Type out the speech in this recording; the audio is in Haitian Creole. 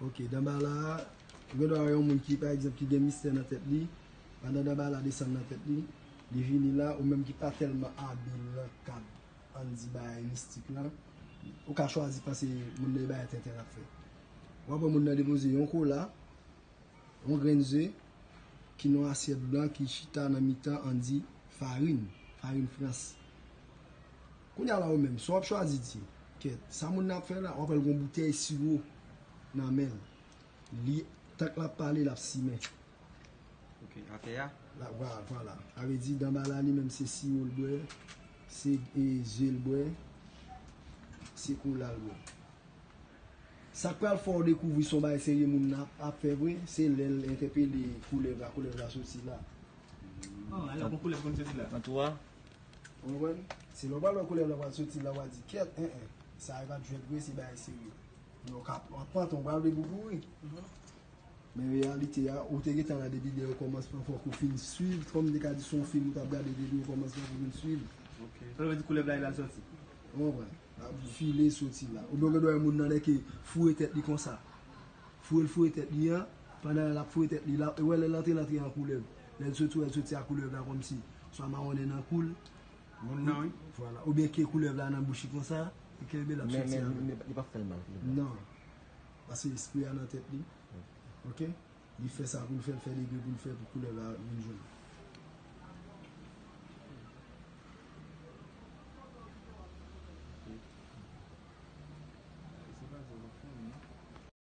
Ok Danbala gen dwa wè yon moun ki pa egzanp ki gen mistè nan tèt li pandan Danbala desann nan tèt li li vini la ou menm ki pa tèlman abil nan kad ann di bagay mistik lan ou ka chwazi panse moun nan e bagay tenten lap fè wap wè moun nan depoze yon kola yon grenn ze ki nan yon asyèt blan ki chita nan mitan ann di farin farin frans. Kounya la ou menm, sa w ap chwazi di? Kèt, sa moun nan ap fè la? Wap wè l gon boutèy siwo nan men l. Li, tank l ap pale, l ap simen. Ok, atè a? La, wa, vwala. Sa vle di Danbala li menm se siwo l bwè, se e ze l bwè, se kola l bwè. Sa k pral fè w dekouvri se yon bagay serye moun nan ap, ap fè vre, se lè l entèpele koulèv la, koulèv la soti la. An, alò gon koulèv konn soti la? An tou a? Ou konprann? Se lè w pral wè koulè blan pral soti la w a di kèt en en, sa yo pa t jwèt vre se bagay serye. Men w ka pran panton bra w depi w kouri. Men reyalite a, ou te gentan la depi dèyè kòmansman fòk ou fin swiv, kòm m te ka di se yon fim ou t ap gade depi o kòmansman pou w fin swiv. Sa vle di koulèv la li pral soti? Ou konprann? L ap file soti la. Oubyen w gen dwa wè moun nan lè ke foure tèt li konsa. Foure l foure tèt li an, pandan l ap foure tèt li la, ou wè lè l antre l antre an koulèv. Lèl soti wèl soti a koulèv la kòmsi swa mawonnen nan koul Moun nan wi Vwala oubyen ke koulèv la nan bouch li konsa li kenbe lap soti avèl Men men li pap fèl mal fini Non Pase espri a nan tèt li Ok Li fè sa poul fèl fè degre poul fè pou koulèv la vin jwenn li.